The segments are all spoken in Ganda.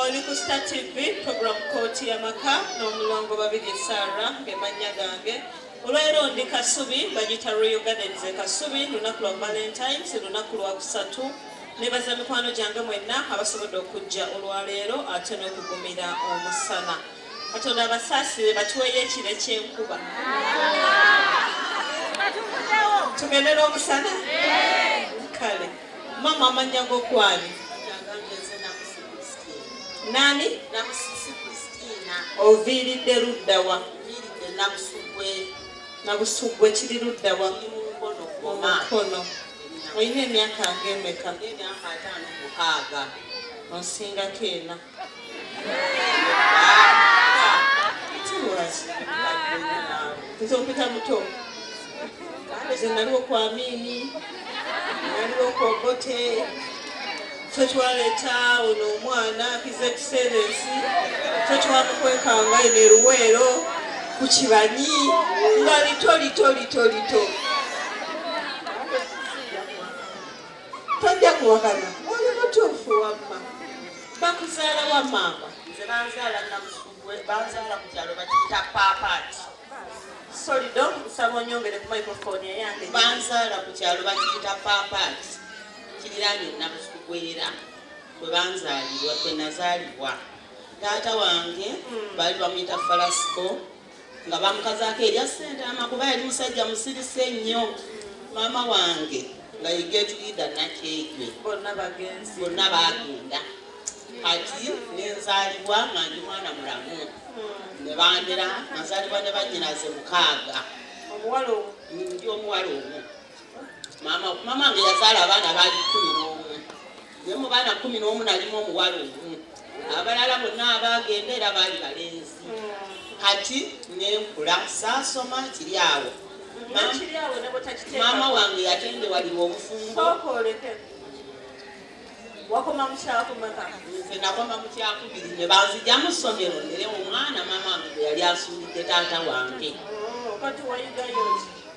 oli ku star tv program kooti yamaka n'omulongo babiri sara ngemannya gange olwaleero ndi kasubi bagita royal gardens e kasubi lunaku lwa valentines lunaku lwa kusatu nebaza mikwano gyange mwenna abasobodde okujja olwaleero ate n'okugumira omusana katonda abasaasire batuweeyo ekiro ekyenkuba tugendera omusana kale mama amanya go kwani nani namusisi kristina oviiridde luddawa viiridde nabusugwe nabusugwe kiri luddawa omukono olina emyaka ngemeka emyaka ataano mukaaga onsingako ena nze ompita muto kale ze naliwo ku amiini naliwo ku obote ffe twaleeta ono omwana kizekiserensi ffe twamukwekanga eno eruweero ku kibanyi nga lito lito lito lito tojja kuwakana oli mutuufu wamma bakuzaala wa maama nze banzaala namusugwe banzaala ku kyalo bakiyita paapaati soli do nsaba onyongere ku microphone eyange banzaala ku kyalo bakiyita paapaati kiriraanye namusugwera kwe banzaalibwa kwe nazaalibwa taata wange hmm. baali bamuyita falasiko nga bamukazaako erya ssentaama kuba yali musajja musirise nnyo maama wange nga yegetulida nakyejwe bonna bagenda kati nenzalibwa nga ndi mwana mulamu hmm. nebandera nazalibwa ne banyinaze mukaaga ndi omuwala omu maama maama wange yazaala abaana baali kumi n'omu ne mu baana kumi n'omu nalimu omuwala omu abalala bonna abaagenda era baali balenzi kati nenkula saasoma kiri awo maama wange yatende waliwo obufumbo wakoma mukyakumeka nze nakoma mukyakubiri ne banzija mu ssomero nere omwana maama wange gwe yali asuulidde taata wange oh, kati wayigayoki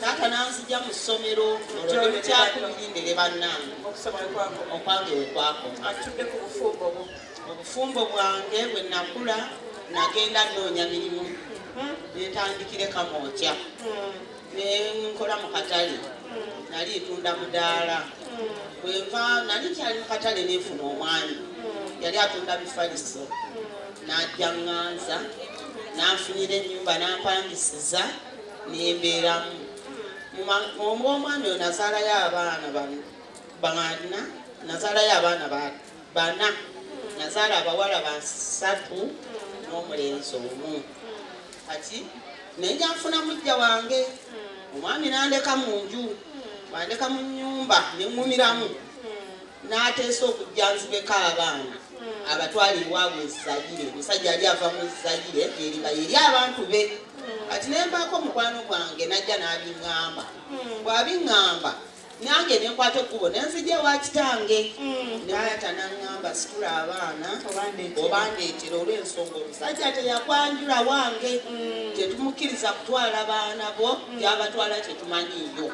taata nanzija mu ssomero olwolimi kyakumirindere bannange okwange wekwakoma obufumbo bwange bwe nakula nagenda nnoonya mirimu hmm. netandikire kamooja hmm. nenkola mu katale hmm. nali ntunda mudaala bwenva nali kyali mu katale nenfuna omwami yali atunda bifaliso najja nganza nanfunira enyumba nampangisiza nembeeramu omu omwami oyo nazaalayo abaana bana nazaalayo abaana bana nazaala abawala basatu n'omulenzi omu kati naye njanfuna mujja wange omwami nandeka mu nju wandeka mu nyumba neŋumiramu n'ateesa okujja nzibeko abaana abatwala ewaabwe ezayire omusajja yali ava mu zayire yeriba yeri abantu be kati ne mbaako mukwano gwange najja n'abiŋŋamba bw'abiŋŋamba nange nenkwata ekkubo nenzija ewa kitange naata naŋŋamba situla abaana obandeetera olw'ensonga omusajja teyakwanjula wange tetumukkiriza kutwala baana bo byabatwala tetumanyiiyo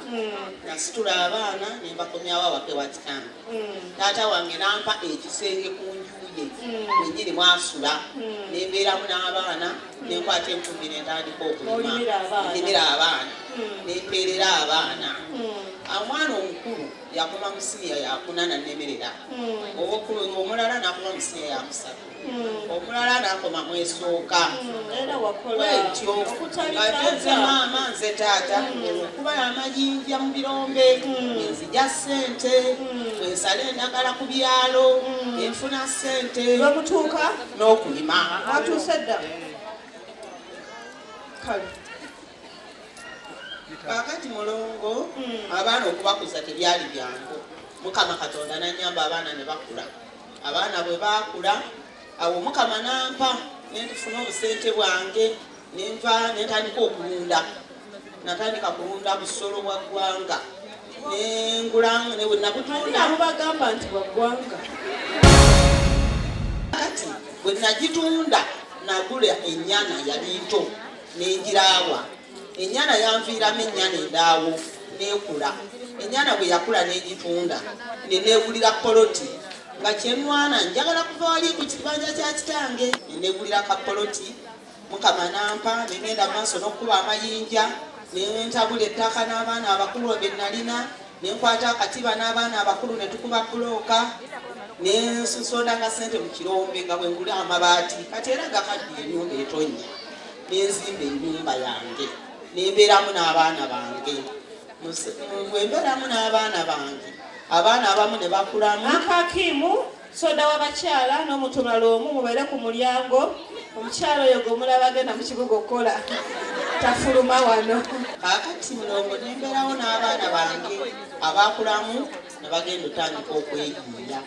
nasitula abaana ne mbakomyawo awake wa kitange mm. taata wange nampa ekisenge ku njuye wenyini mm. mwasula mm. nembeeramu n'abaana nenkwata enkumbi nentandika okulimira abaana nempeerera abaana omwana omukulu yakoma musiya yakunana nemerera owokulu omulala nakoma musiya yakusatu omulala nakoma mwesooka wetyo nze maama nze taata kuba amayinja mu birombe nzija sente ensala endagala ku byalo enfuna sente bamutuuka n'okulima atuuse dda kale kakati mulongo abaana okubakuza tebyali byangu mukama katonda nanyamba abaana ne bakula abaana bwe baakula awo omukama nampa nentufuna obusente bwange nenva nentandika okulunda natandika kulunda busolo bwa ggwanga nengulamu nabutunda mubagamba nti bwa ggwanga kati bwe nagitunda nagula enyana yali nto nengirawa ennyana yanviiramu ennyana endaawo n'ekula ennyana bwe yakula n'egitunda ne neegulira poloti nga kyenwana njagala kuva wali ku kibanja kya kitange ne neegulira ka poloti mukama nampa ne ngenda maaso n'okukuba amayinja ne ntabula ettaka n'abaana abakulu be nalina ne nkwata akatiba n'abaana abakulu ne tukuba bulooka ne nsondanga ssente mu kirombe nga bwe ngula amabaati kati era gakaddi ennyumba etonnya ne nzimba ennyumba yange ne mbeeramu n'abaana bange bwe mbeeramu n'abaana bange abaana abamu ne bakulamu akakimu soda w'abakyala n'omuntu omulala omu mubeere ku mulyango omukyala oyo gwemulaba agenda mu kibuga okukola tafuluma wano kakati mulongo nemberawo n'abaana bange abakulamu ne bagenda otandika okweyiiya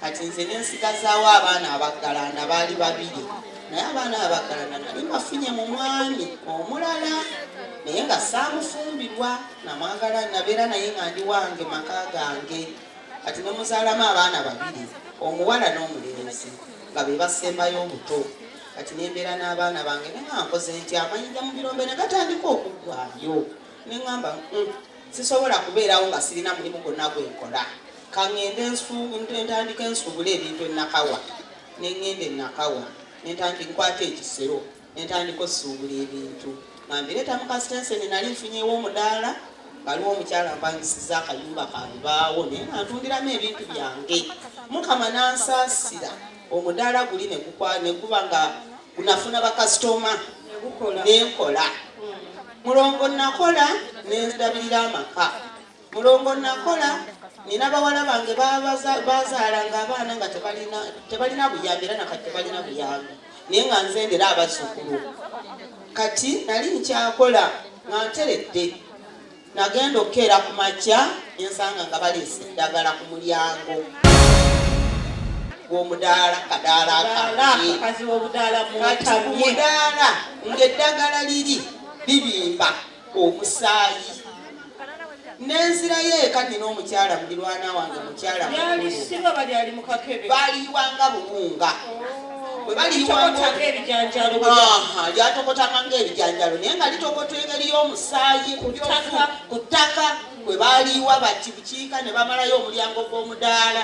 kati nze nensigazaawo abaana abaggalanda baali babiri naye abaana abaggalanda nali mafunye mu mwami omulala naye nga saamufumbirwa namwagala nabeera naye nga ndi wange maka gange kati nomuzalamu abaana babiri omuwala n'omulenzi nga be basembayo obuto kati nembeera n'abaana bange nenga nkoze nti amayinja mu birombe ne gatandika okuggwayo ne ŋamba mm, sisobola kubeerawo nga sirina mulimu gwonna gwe nkola kaŋŋende ntandika ensuubula ebintu enakawa ne ŋŋenda enakawa ne ntandika nkwata ekisero nentandika osuubula ebintu nga mbireeta mu kasitenseni nali nfunyewo omudaala waliwo omukyala mpangisiza akayumba kalubaawo naye nga ntundiramu ebintu byange mukama nansaasira omudaala guli neguba nga gunafuna bakasitoma nenkola mulongo nakola nendabirira amaka mulongo nakola nina bawala bange bazaalanga abaana nga tebalina buyambi era nakati tebalina buyambi naye nga nzendera abazzukulu kati nali nkyakola nga nteredde nagenda okukeera ku makya ensanga nga baleese eddagala ku mulyango gwomudaala kadaala kadaala ng'eddagala liri bibimba omusaayi nenzirayo eka nina omukyala mulirwana wange mukyala baliyiwanga buwunga lyatokotanga ngaebijanjalo naye nga litokota engeri y'omusaayi ku ttaka kwe baliyiwa bati bukiika ne bamalayo omulyango gw'omudaala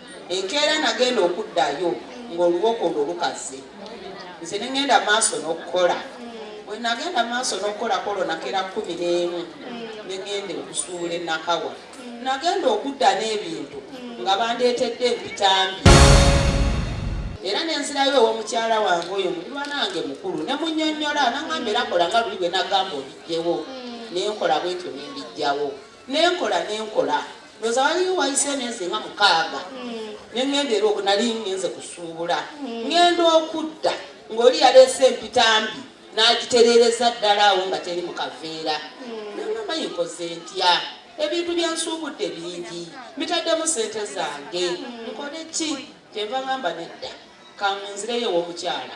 enkeera nagenda okuddayo ng'oluwoko olwo lukaze nze ne ŋŋenda maaso n'okukola bwe nagenda maaso n'okukolako olwo nakeera kumi n'emu ne ŋŋenda okusuula enakawa nagenda okudda n'ebintu nga bandeetedde empitambi era nenzirayo owomukyala wange oyo muliwa nange mukulu ne munyonyola nangamba era kola nga luli bwe nagamba obijjewo nenkola bwetyo nembijjawo nenkola nenkola ndoza waliyo wayise emyezi nga mukaaga hmm. nengenda era oku nali ngenze kusuubula hmm. ngenda okudda ng'oli yaleese empitambi n'agitereereza ddala awo nga teri mu kaveera hmm. nangamba yinkoze ntya ebintu byensuubudde bingi mitaddemu sente zange nkole ki kyenva ngamba nedda kangunzireyo ew'omukyala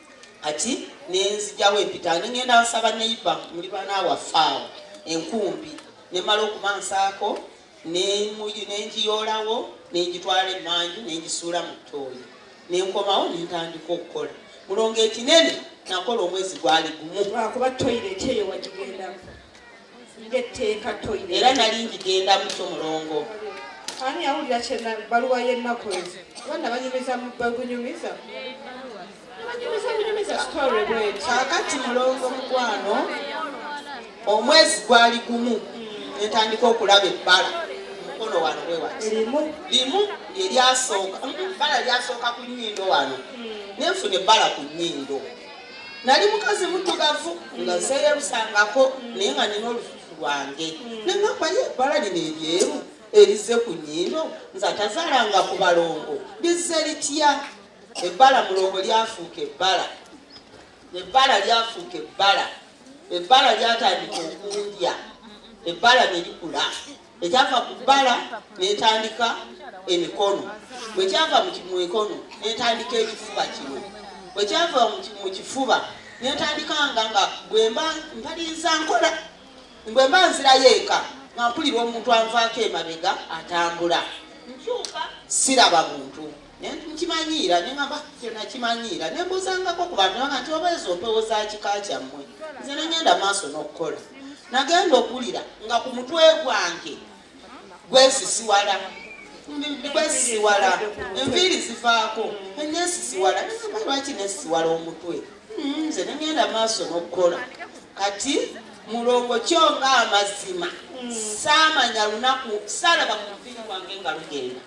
kati nenzijawo empita nengenda nsaba neiba muli bana wafaawo enkumbi nemala okuba nsaako nenjiyolawo nenjitwala emanju nenjisuula mu ttooyi nenkomawo nentandika okukola mulongo ekinene nakola omwezi gwali gumu lwakuba toyireti eyo wagigendamu ng'etteeka toyina era nali ngigendamu kyo mulongo ani yawulira kyena baluwa y'ennaku ezo abaana banyumiza bagunyumiza kakati mulongo mukwano omwezi gwali gumu netandika okulaba ebbala mukono wano wewati limu lyelyasooka bala lyasooka ku nyindo wano hmm. nenfuna ebbala ku nyindo nali mukazi muddugavu nga nseyelusangako naye nga nina olufufu lwange nengamba ye ebbala lino eryeru erizze ku nyindo nze atazaalanga ku balongo lizze litya ebbala mulongo lyafuuka ebbala ebbala lyafuuka ebbala ebbala lyatandika okundya ebbala ne likula ekyava ku bbala netandika emikono bwekyava mu mikono netandika ekifuba kino bwekyava mu kifuba netandikanga nga bwemba mpalinza nkola bwemba nzirayo eka nga mpulira omuntu anvaako emabega atambula nkyuka siraba muntu nkimanyiira ne ngamba kyona kimanyiira ne mbuzangako ku bantu nanga nti oba ezo mpewo za kika kyammwe nze ne ngenda maaso n'okukola nagenda okuwulira nga ku mutwe gwange gwesisiwala gwesisiwala enviiri zivaako nesisiwala nagamba lwaki nesisiwala omutwe hmm, nze ne ngenda maaso n'okukola kati mulongo kyo nga amazima hmm. saamanya lunaku saalaba ku muviiri gwange nga lugenda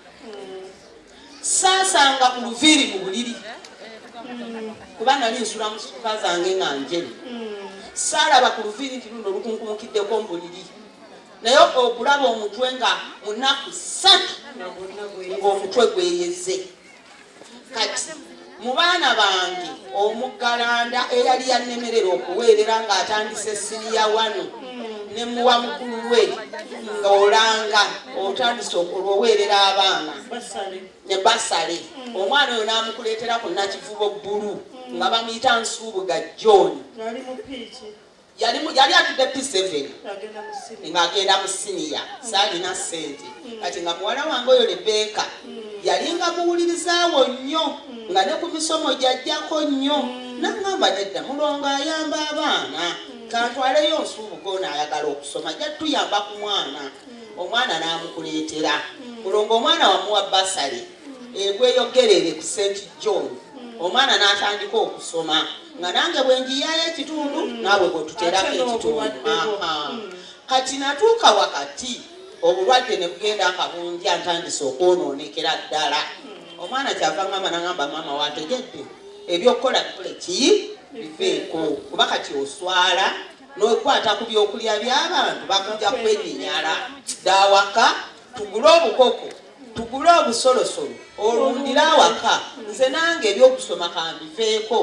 saasanga mu luviiri mu buliri kuba nali nsula mu suka zange nga njere saalaba ku luviiri nti luno lukunkumukiddeko mu buliri naye okulaba omutwe nga munaku satu ng'omutwe gweyeze kati mu baana bange omuggalanda eyali yannemerera okuweerera ng'atandise siniya wanu ne muwa mukulu we ng'olanga otandise okulwoweerera abaana ne basale omwana oyo n'amukuleetera ku nakivubo bbulu nga bamuyita nsuubuga john yali yali atudde P7 ng'agenda mu siniya saalina ssente mm. kati nga muwala wange oyo Lebeeka mm. yali nga muwulirizaawo nnyo mm. nga ne ku misomo gyajjako nnyo nangamba nedda mulongo ayamba abaana kantwaleyo nsuubuga ono ayagala okusoma ajja tuyamba ku mwana omwana n'amukuleetera mulongo omwana wamuwa basale egweyo gerere ku st john hmm. omwana n'atandika okusoma nga nange bwenjiyayo ekitundu hmm. naawe bwetuterako ekitundu hmm. kati natuuka wakati obulwadde ne bugenda akabunja ntandise okwonoonekera ddala omwana kyava ngamba nagamba maama wategedde ebyokukola bikole ki biveeko kuba kati oswala nokwata ku byokulya by'abantu bakujja kwenyinyala dawaka tugule obukoko tugule obusolosolo olundire awaka nze nange ebyokusoma kambiveeko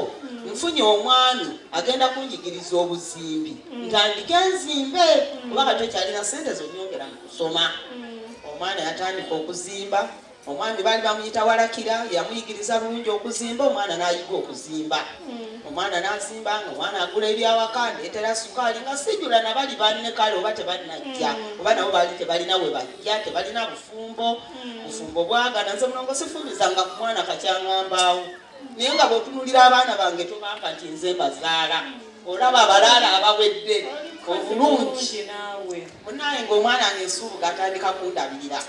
nfunye omwami agenda kunjigiriza obuzimbi ntandike nzimbe kuba kati okyalina sente zonyongera mu kusoma omwana yatandika okuzimba omwami baali bamuyita walakira yamuyigiriza bulungi okuzimba omwana nayiga okuzimba omwana nazimba nga omwana agula ebyawaka ndetera sukaali nga sijula nabali banne kale oba tebanajja oba nabo baali tebalina webajja ya tebalina bufumbo hmm. bufumbo bwagana nze mulongo sifubizanga ku mwana kakyangambaawo naye nga bwotunulira abaana bange tobanka nti nze mbazaala olaba abalaala abawedde obulungi munaye ngaomwana nge nsuubuga atandika kundabirira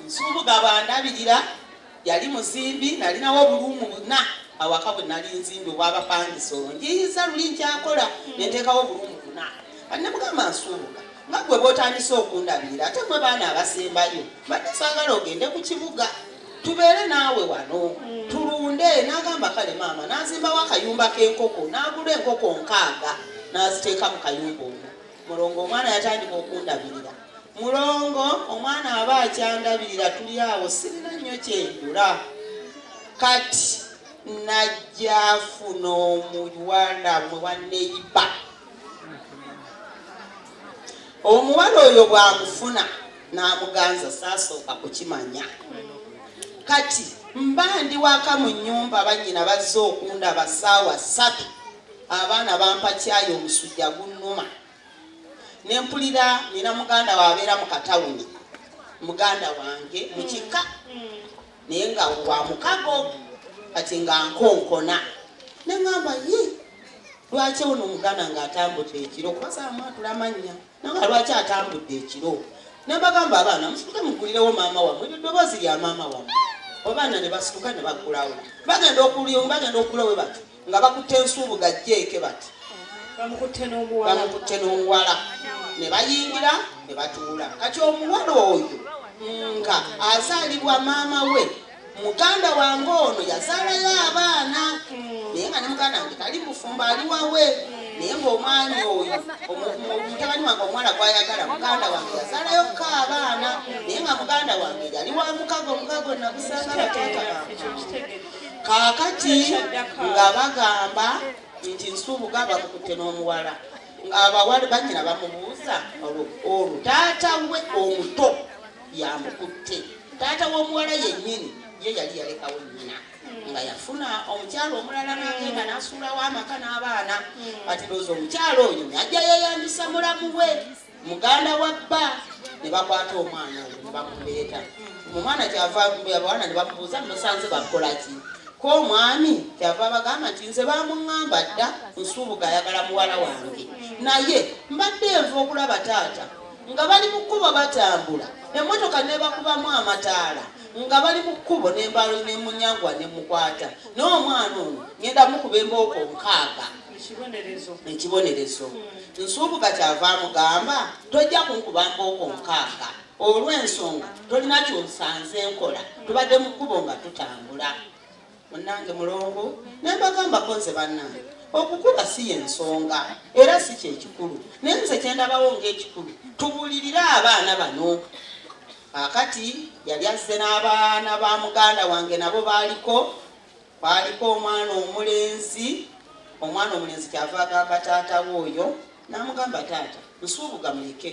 nsuubuga bandabirira yali muzimbi nalinawo obuluumu buna awaka bwe nali nzimbi obwabapangisa olwo njiyiza luli nkyakola nenteekawo obuluumu buna anne mugamba nsuubuka nga gwe bwotandise okundabirira ate mwe baana abasembayo mbadde saagala ogende ku kibuga tubeere naawe wano hmm. tulunde nagamba kale maama nazimbawo akayumba k'enkoko nagula enkoko nkaaga naziteeka mu kayumba omu mulongo omwana yatandika okundabirira mulongo omwana aba akyandabirira tuli awo sirina nnyo kyendula kati najjafuna omuwala mwe waneiba omuwala oyo bwamufuna n'amuganza saasooka kukimanya kati mba ndi waka mu nyumba banyina bazze okundaba saawa satu abaana bampa kyayi omusujja gunnuma ne mpulira nina muganda wabeera mu katawuni muganda wange mu kika naye nga wa mukago kati nga nkonkona ne ŋamba ye lwaki ono omuganda ng'atambudde ekiro kubasaamu atula mannya nanga lwaki atambudde ekiro nabagamba abaana musituke mugulirewo maama wamwe eryo ddoboozi lya maama wamwe obaana ne basituka ne bagulawo bagenda okulyo bagenda okugulawo bati nga bakutte nsuubuga jeeke bati bamukutte n'omuwala ne bayingira ne batuula kati omuwala oyo nga azaalibwa maama we muganda wange ono yazaalayo abaana naye nga ne muganda wange tali mufumba ali wawe naye ngaomwami oyo mutabani wange omuwala gwayagala muganda wange yazaalayo ko abaana naye nga muganda wange yali wa mukago mukago nagusanga bataata kaakati nga bagamba nti nsuubuga bamukutte n'omuwala ng'abawala banyina bamubuuza olwo taata we omuto yamukutte taata w'omuwala yennyini ye yali yalekawo nnyina nga yafuna omukyala omulala nagenda nasuulawo amaka n'abaana hmm. ati looza omukyala oyo najja yeyambisa mulamu we muganda wa bba ne bakwata omwana oyo ne bamuleeta omwana kyava abawana ne bamubuuza musanze bakola ki ko omwami kyava abagamba nti nze bamuŋŋamba dda nsuubuga ayagala muwala wange naye mbadde enva okulaba taata nga bali mu kkubo batambula emmotoka nebakubamu amataala nga bali mu kkubo nembaalo nemunyangwa nemukwata n'omwana ono ngenda mukuba embooko nkaaga ekibonerezo hmm. nsuubuka kyava amugamba tojja kunkuba mbooko nkaaga olw'ensonga tolina kyonsanze nkola tubadde mu kkubo nga tutambula munange mulongo nembagambako nze bannange okukuba si yensonga era si kyekikulu naye nze kyendabawo ngaekikulu tubulirire abaana bano akati yali azze n'abaana ba muganda wange nabo baaliko Kwaaliko omwana omulenzi, omwana omulenzi kyava agamba taata we oyo, namugamba taata nsuubuga muleke,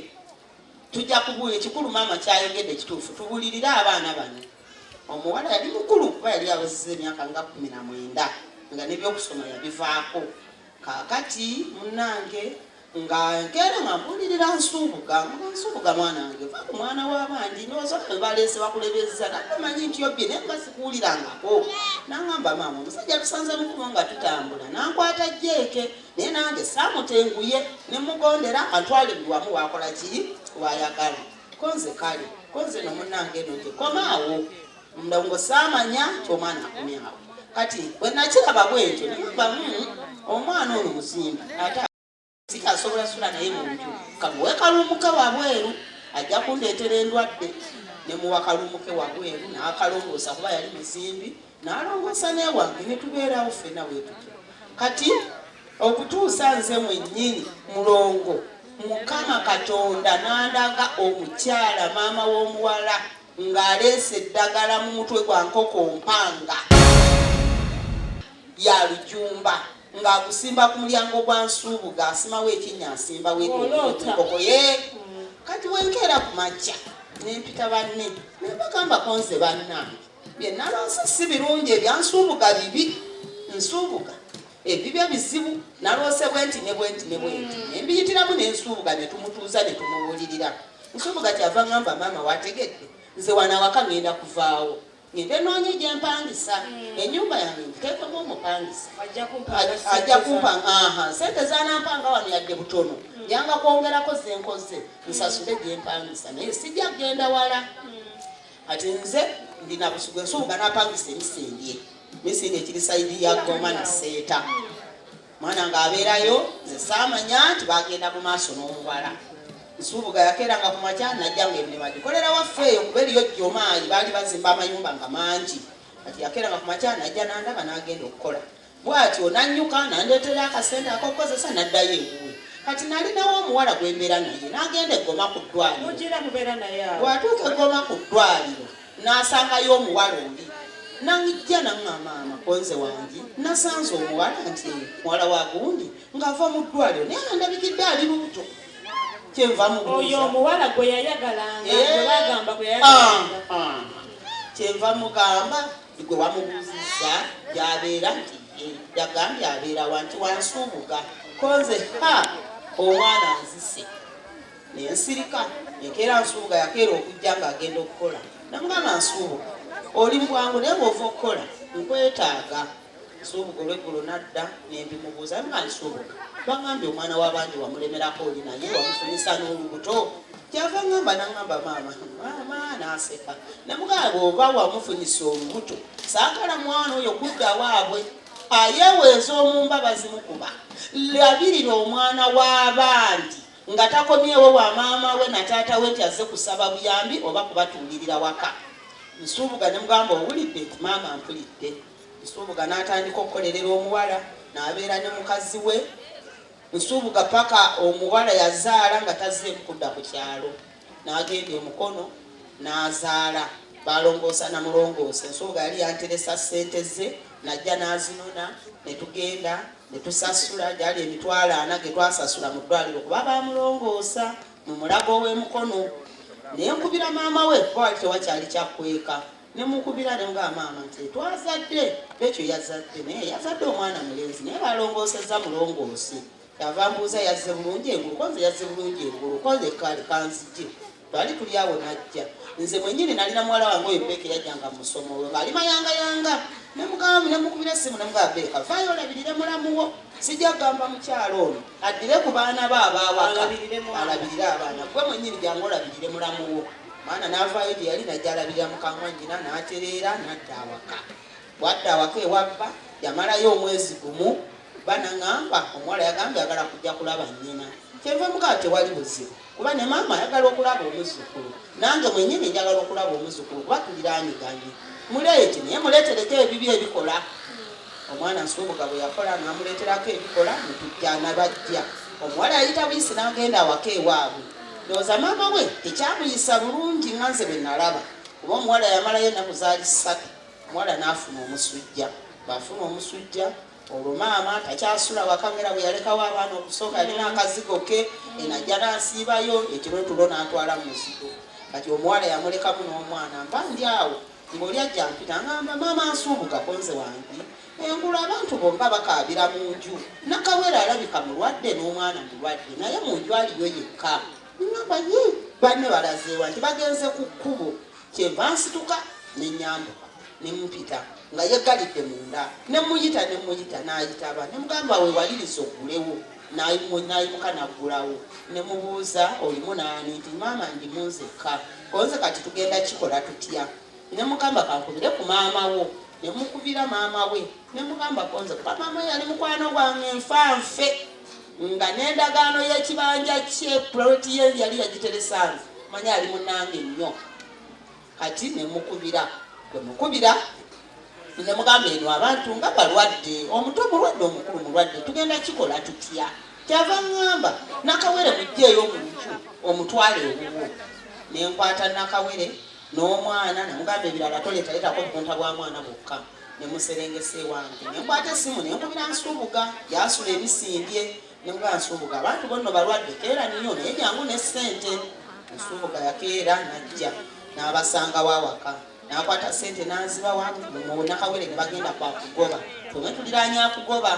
tujja kubuulira ekikulu maama kyayogedde kituufu, tubulirire abaana bano. Omuwala yali mukulu kuba yali abaziza emyaka nga kumi na mwenda nga nebyokusoma yabivaako. Kaakati munange nga enkeera nga mpulirira nsuubuga nga nsuubuga mwana wange va ku mwana w'abandi nyoza baleese bakulebezza nagamanyi nti obbye naye nga sikuwulirangako nangamba maama omusajja tusanze mukubo nga tutambula nankwata jeeke naye nange saamutenguye ne mugondera antwale buli wamu wakola ki wayagala konze kale konze no munnange eno gye komaawo ndongo saamanya nti omwana akomyawo kati bwe nakiraba bwentyo nembamu hmm, omwana ono muzimba ate sikyasobola sula naye mu nju kamuwe kalumuke wabweru ajja kundeetera endwadde ne muwa kalumuke wabweru n'akalongoosa kuba yali muzimbi n'alongoosa newange ne tubeerawo ffena wetutu kati okutuusa nze mwennyini mulongo mukama katonda n'andaga omukyala maama w'omuwala ng'aleese eddagala mu mutwe gwa nkoko mpanga ya lujumba ng'agusimba ku mulyango gwa nsuubuga asimawo ekinnya asimba wenkoko ye kati wenkeera ku makya nempita banne nebagamba konze bannange byenalonse si birungi ebyansuubuga bibi nsuubuga ebibye bizibu naloose bwenti ne bwenti ne bwenti mm. nembiyitiramu nensuubuga ne tumutuuza ne tumubuulirira nsuubuga kyava ngamba maama wategedde nze wanawaka ngenda kuvaawo ngende noonye gyempangisa mm. enyumba yange nkuteekemu omupangisa ajja kumpanga aha sente zanampanga wano yadde butono mm. yanga kwongerako zenkoze nsasule gyempangisa naye sijja kugenda wala ati nze ndina busugu ensuubuga napangisa emisembye misinde kiri saidi ya goma na seeta mwana nga abeerayo nze saamanya nti bagenda mu maaso n'omuwala nsuubuga yakeeranga ku makya najja nga emirimu agikolera waffe eyo kuba eriyo jjomaayi baali bazimba amayumba nga mangi kati yakeeranga ku makya najja nandaba n'agenda okukola bwatyo nanyuka nandeetera akasente akokukozesa naddayo ewuwe kati nalinawo omuwala gwembeera naye nagenda egoma ku ddwaliro bwatuuka egoma ku ddwaliro Nasangayo omuwala oli nangijja nangamba mama konze wangi nasanze omuwala nti muwala wa gundi ng'ava mu ddwaliro naye nga ndabikidde ali lubuto kyenva muoyo omuwala gwe yayagalanga eh. bagamba gwe yayagalanga ah, ah. kyenva mugamba gwe wamubuuzizza gyabeera nti yagambye abeera wanti wansuubuga konze ha omwana nzise ne nsirika enkeera nsuubuga yakeera okujja ng'agenda okukola namugamba nsuubuga oli mubwangu naye bwova okukola nkwetaaga nsuubuga olweggulo nadda nembimubuuza nga nsuubuga bangambye omwana w'abandi wamulemerako oli naye wamufunyisa n'olubuto kyava ngamba nangamba maama maama naseka namugamba bwoba wamufunyisa olubuto saagala mwana oyo kudda waabwe ayeweeza omumba bazimukuba labirira omwana w'abandi Nga takomyewo wa maama we na taata we nti azze kusaba buyambi oba kubatuulirira waka. Nsuubuga ne mugamba owulidde nti maama ampulidde. Nsuubuga n'atandika okukolerera omuwala n'abeera ne mukazi we Nsuubuga paka omuwala yazaala nga tazzeemu kudda ku kyalo. n'agenda omukono n'azaala balongoosa na mulongoosa ensonga yali yanteresa ssente ze najja n'azinona ne tugenda ne tusasula gyali emitwalo ana ge twasasula mu ddwaliro kuba bamulongoosa mu mulago ow'emukono naye nkubira maama we kuba wali tewakyali kyakweka ne mukubira ne nga maama nti twazadde bekyo yazadde naye yazadde omwana mulenzi naye balongoosezza mulongoosi Kyava mbuuza yazze bulungi engulu konze yazze bulungi engulu konze kale kanzije twali tuli awo najja nze mwenyini nali na muwala wange oyo beeka eyajjanga mu musomo we ng'ali mayangayanga ne mukamu ne mukubira essimu ne mugamba beeka vaayo olabirire mulamuwo sijja kugamba mukyalo ono addire ku baana be abaawaka alabirire abaana gwe mwenyini jangu olabirire mulamuwo maana n'avaayo gye yali najja alabirira mukamwa nyina n'atereera n'adda awaka Bwadda awaka ewa bba yamalayo omwezi gumu bba nangamba omuwala yagambye agala kujja kulaba nnyina kyenva mugaba tewali buzibu kuba ne maama ayagala okulaba omuzukulu nange mwenyini njagala okulaba omuzukulu kuba tuliraniganye muleete naye muleetereko ebibi ebikola omwana nsubuga bwe yakola namuleeterako ebikola netujjana bajja omuwala yayita buyisi nagenda awaka ewaabwe ndowooza maama we tekyamuyisa bulungi nga nze bwe nalaba kuba omuwala yamalayo enaku zaali ssatu omuwala n'afuna omusujja bw'afuna omusujja olwo maama takyasula wakamera bwe yalekawo abaana okusooka yalina akazigo ke enajja n'asiibayo ekiro tulo n'atwala mu muzigo kati omuwala yamulekamu n'omwana mba ndi awo ng'oli ajja mpita ngamba maama nsuubuga konze wange engulu abantu bomba bakaabira mu nju nakawera alabika mulwadde n'omwana mulwadde naye mu nju aliyo yekka ngamba ye banne balazeewa nti bagenze ku kkubo kyenva nsituka ne nyambuka ne mpita nga yegalidde munda ne muyita ne muyita n'ayitaba ne mugamba we waliriza ogulewo n'ayimuka n'aggulawo ne mubuuza olimu naani nti maama ndi munzekka konze kati tugenda kikola tutya ne mugamba kankubire ku maama wo ne mukubira maama we nemugamba konze kuba mama yali mukwano gwange nfa nfe nga n'endagaano y'ekibanja kye puloti ye yali yagiteresanze manya ali munange nnyo kati nemukubira gwe mukubira nemugamba eno abantu nga balwadde omuto mulwadde omukulu mulwadde tugenda kikola tutya kyava ŋŋamba nakawere mujjeeyo omuntu omutwale ewuwo nenkwata nakawere n'omwana namugamba ebirala toleetaletako bukunta bwa mwana bwokka ne muserengesa ewange ne nkwata essimu ne nkubira nsuubuga gyasula ebisimbye ne muba nsuubuga abantu bonno balwadde keera niyo naye jangu ne ssente nsuubuga yakeera najja n'abasanga wawaka nakwata ssente n'azibawa mu nakawere ne bagenda kwakugoba twemwe tuliranya akugoba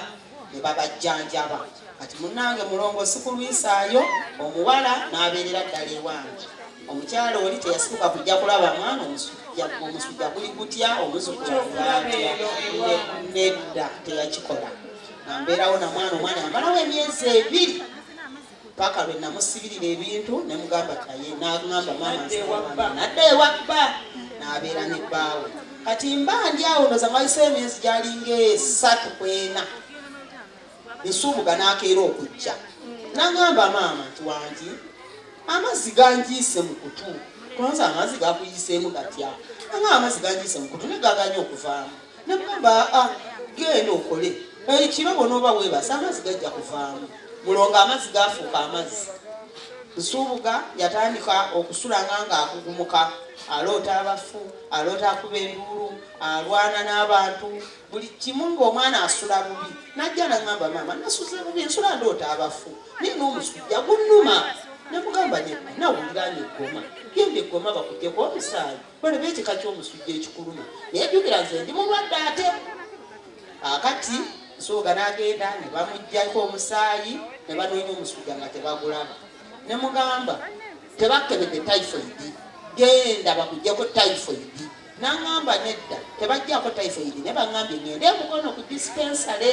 ne babajjanjaba kati munange mulongo sikulwisaayo omuwala n'abeerera ddala ewange omukyala oli teyasituka kujja kulaba mwana omusujja guli gutya omuzukulaatya nedda teyakikola nambeerawo namwana omwana yamalawo emyezi ebiri paka lwe namusibirira ebintu nemugamba taye nagamba mama nadda ewabba nabeera ne bbaawe kati mba ndi awo ndoza mwayise emyezi gyalinga esatu kwena esuubuga nakeera okujja nagamba maama nti wangi amazzi ganjiise mu kutu konza amazzi gakuyiseemu gatya anga amazzi ganjiise mu kutu negaganya okuvaamu ne mugamba aa genda okole ekiro bwonooba weebasa amazzi gajja kuvaamu mulongo amazzi gaafuuka amazzi nsuubuga yatandika okusulanga ng'akugumuka aloota abafu aloota akuba enduulu alwana n'abantu buli kimu ng'omwana asula bubi najja nagamba maama nasuze bubi nsula ndoota abafu naye n'omusujja gunnuma namugamba nawulira nga eggoma genda eggoma bakujjeko omusaayi Bweleba ekika ky'omusujja ekikuluma naye jjukira nze ndi mulwadde ate akati nsooga n'agenda ne bamuggyako omusaayi ne banoonya omusujja nga tebagulaba ne mugamba tebakebedde typhoidi genda bakuggyeko typhoidi nangamba nedda tebajjako typhoid naye bangambye ngende mukono ku dispensary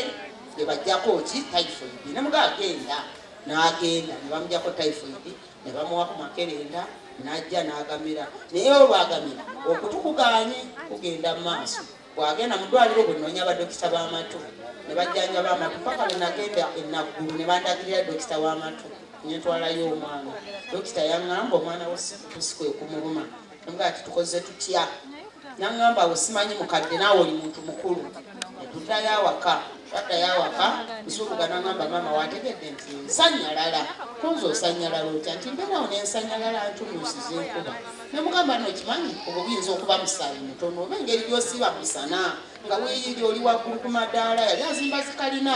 nebajjako ki typhoid nemuga agenda nagenda nebamujako typhoid ne bamuwa ku makerenda n'ajja n'agamira naye olwagamira okutu kugaanye kugenda mu maaso bwagenda mu ddwaliro bwe noonya badokita b'amatu ne bajjanjaba amatu paka lwe nagenda enaggulu ne bandagirira dokita w'amatu ne ntwalayo omwana dokita yaŋŋamba omwana wo si kwe kumuluma nga ati tukoze tutya nangamba awo simanyi mukadde naawe oli muntu mukulu netutayo awaka twatayo awaka nsuubuga nangamba maama wategedde nti nsanyalala kunze osanyalala otya nti mbeerawo nensanyalala ntumuusiza enkuba nemugamba nokimanyi obwo buyinza okuba musaayi mutono oba engeri gyosiiba musana nga weyiri oli waggulu ku madaala yali azimba zikalina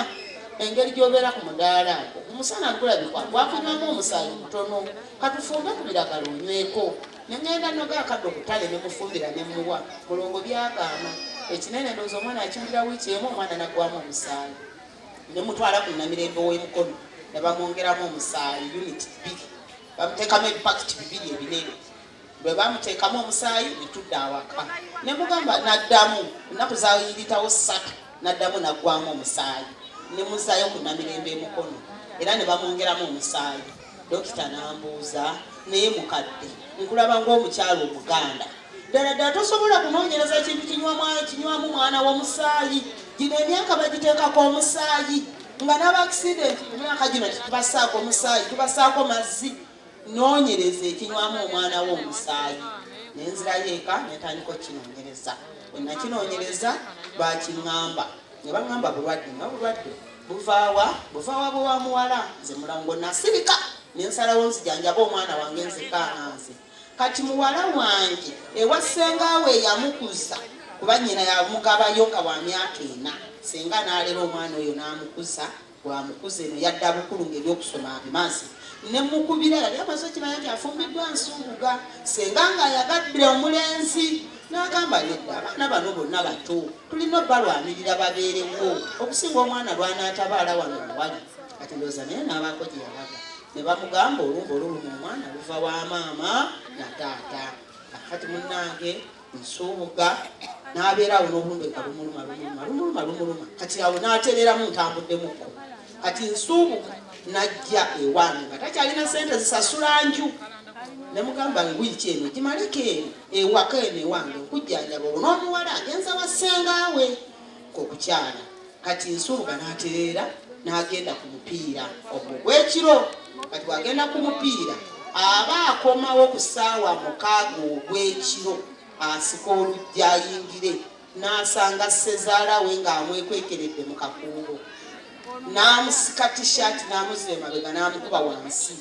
engeri gyobeera ku mudaala omusana gulabikwa gwakunywamu omusaayi mutono katufumbe ku biragala onyweko ne ŋŋenda noga akadde okutale ne mufumbira ne muwa mulongo byagaana ekinene ndowooza omwana akiwulira wiiki emu omwana naggwamu omusaayi ne mutwala ku namirembe w'emukono ne bamwongeramu omusaayi uniti bbiri bamuteekamu ebipakiti bibiri ebinene bwe bamuteekamu omusaayi ne tudda awaka ne mugamba naddamu ennaku zayiritawo ssatu naddamu naggwamu omusaayi ne muzaayo ku namirembe emukono era ne bamwongeramu omusaayi Dokita n'ambuuza, naye mukadde, nkulaba ng'omukyala Omuganda. Ddala ddala tosobola kunoonyereza kintu kinywamu mwana w'omusaayi? Gino emyaka bagiteekako omusaayi nga n'abakisidenti emyaka gino tetubasaako omusaayi, tubasaako mazzi. Noonyereza ekinywamu omwana w'omusaayi. Ne nzirayo eka ne ntandika okukinoonyereza. Bwe nakinoonyereza, baakingamba ne bangamba bulwadde nga bulwadde. buvaawa buvaawa bwe wa muwala nze mulango nasirika nensalawo nzijanjaba omwana wange nzekaana nze kati muwala wange ewa sengaawe eyamukuza kuba nyina yamugabayo nga wa myaka ena senga nalera omwana oyo namukuza bwamukuza eno yadda bukulu ngaebyokusoma abimazi nemukubira yali amaze okimanya nti afumbiddwa nsunguga senga nga ayagadde omulenzi n'agamba nedda abaana bano bonna bato tulina obalwanirira babeerewo okusinga omwana lwanaatabaala wano muwali kati ndooza naye n'abaako gye yalaga ne bamugamba olumba oluluma omwana luva wa maama na taata kati munnange nsuubuga n'abeera awo n'obulumbe nga lumuluma lumuluma lumuluma lumuluma kati awo n'atereeramu ntambuddemukko kati nsuubuka najja ewange nga takyalina sente zisasula nju nemugamba ngwiki eno gimaleko eno ewaka eno ewange okujjanjaba olwo n'omuwala agenza wa ssengawe kokukyala kati nsuubuka n'atereera n'agenda ku mupiira ogwo gwekiro kati wagenda ku mupiira aba akomawo ku ssaawa mukaaga ogw'ekiro asika olujja ayingire n'asanga ssezaala we ng'amwekwekeredde mu kakuubo n'amusika tishaati n'amuzza emabega n'amukuba wansi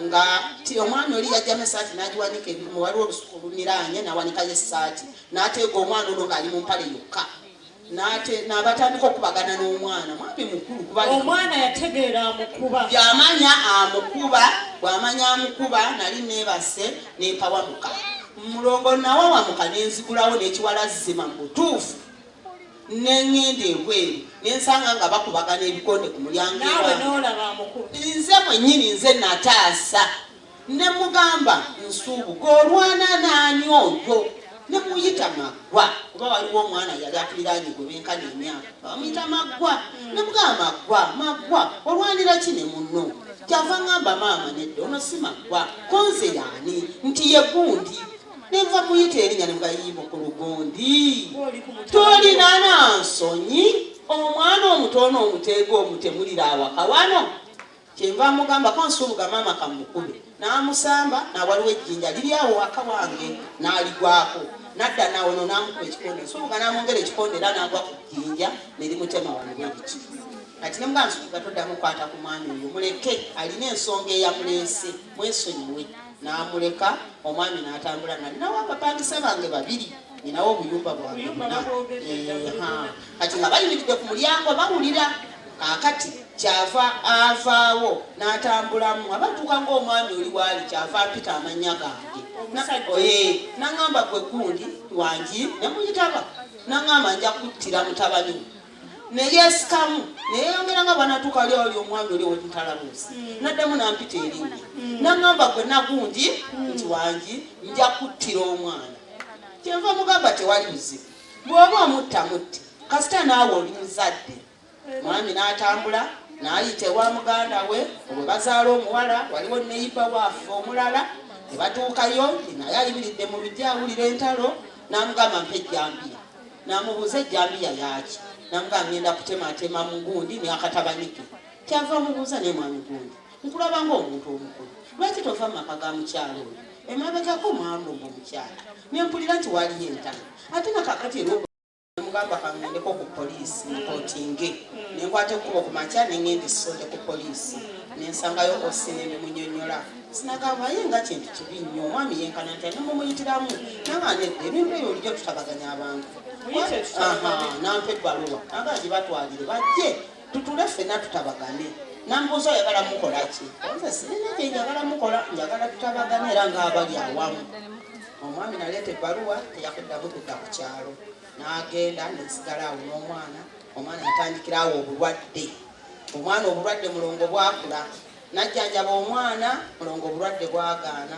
nga ti omwana oli yajjamu esaati n'agiwanika ebimu waliwo olusuku oluniraanye n'awanikayo essaati n'ateega omwana ono ng'ali mu mpale yokka nabatandika okubagana n'omwana mwami mukulu kubaomwana yategeera amukuba yamanya amukuba bwamanya amukuba nali nebase nempawamuka Mulongo nawawamuka ne nzigulawo n'ekiwala zima mu butuufu ne ŋŋenda ebweru ne nsanga nga bakubagana ebikonde ku mulyango naawe n'olaba amukulu nze mwennyini nze nataasa ne mugamba nsuubuka olwana naani oyo ne muyita maggwa kuba waliwo omwana yali atuliraanye gwe benkana emyaka bamuyita maggwa nemugamba maggwa maggwa olwanira ki ne munno kyava ngamba maama nedda ono si maggwa konze yaani nti ye gundi nenva muyita erinya nemugayimba ku lugundi tolina na nsonyi omwana omutoona omuteega omutemulira awaka wano Kyenva mugamba ko nsubuga maama kamukube n'amusamba n'awaliwo ejjinja liri awo waka wange n'aligwako nadda nawono n'amukuba ekikonde nsubuga n'amwongera ekikonde era n'agwa ku jjinja ne limutema wano bwe biti kati ne mugamba nsubuga toddamu kwata ku mwami oyo muleke alina ensonga eyamuleese mwesonyiwe n'amuleka omwami n'atambula nali nawo abapangisa bange babiri ninawo obuyumba bwange bwonna kati nga bayimiridde ku mulyango bawulira kakati kyava avaawo n'atambulamu abatuuka ng'omwami oli waali kyava apita amannya gange naŋamba gwe gundi wangi nemuyitaba naŋamba nja kuttira mutabani neyesikamu neyeyongera nga bwanatuuka ali oli omwami oli wemutalabuusi hmm. naddemu nampita erinnya hmm. naŋamba gwe nagundi hmm. nti wangi nja kuttira omwana kyenva mugamba tewali buzibu bwoba omutta mutti kasita naawe oli muzadde mwami n'atambula n'ayita ewa muganda we obwe bazaala omuwala waliwo neyiba waafe omulala ne batuukayo naye ayimiridde mu lujja awulira entalo n'amugamba mpa ejjambiya n'amubuuza ejjambiya yaaki namugamba ngenda kutemaatema mu gundi n'akatabanike kyava mubuuza naye mwami gundi nkulaba ng'omuntu omukulu lwaki tova mu maka ga mukyalo oyo emabegako mwalumba omukyala nempulira nti waliyo entana ate nakakati eramugamba kangendeko ku poliisi nkotinge nenkwata ekkuba okumakya nengenda esonde ku poliisi nensangayo osinene munyonyola sinagambaaye nga kintu kibi nnyo omwami yenkana nti anemumuyitiramu nabanedde ebintu ebyo bulijjo tutabaganya abantu nampa ebbaluwa aga gibatwalire bajje tutule fena tutabagane nambuuza oyagala mukola ki nze sirina kye njagala mukola njagala tutabagane era ngaabali awamu omwami naleeta ebbaluwa teyakuddamu kudda ku kyalo n'agenda nesigala awo n'omwana omwana yatandikira awo obulwadde omwana obulwadde mulongo bwakula najjanjaba omwana mulongo obulwadde bwagaana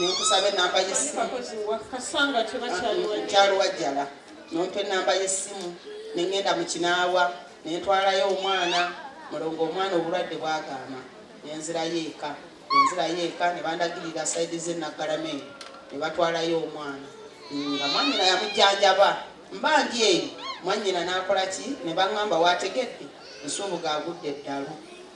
nenkusaba enamba yesimukyalo wajjala nompa enamba yesimu nengenda mukinaawa nentwalayo omwana mulongo omwana obulwadde bwagaama nenzirayo eka nenzirayo eka nebandagirira saidi zenaggalame nebatwalayo omwana nga mwanyina yamujjanjaba mba ndi eyo mwanyina nakola ki nebaŋamba wategedde nsubuga agudde eddalu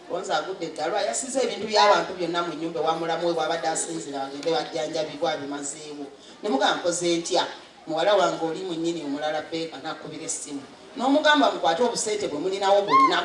Gonza agudde eddalu ayasiza ebintu by'abantu byonna mu nnyumba ewa mulamu we bwabadde asinzira bagende bajjanjabibwa bimazeewo ne mugamba nkoze ntya muwala wange oli mu nnyini omulala beeka n'akubira essimu n'omugamba mukwate obusente bwe mulinawo bwonna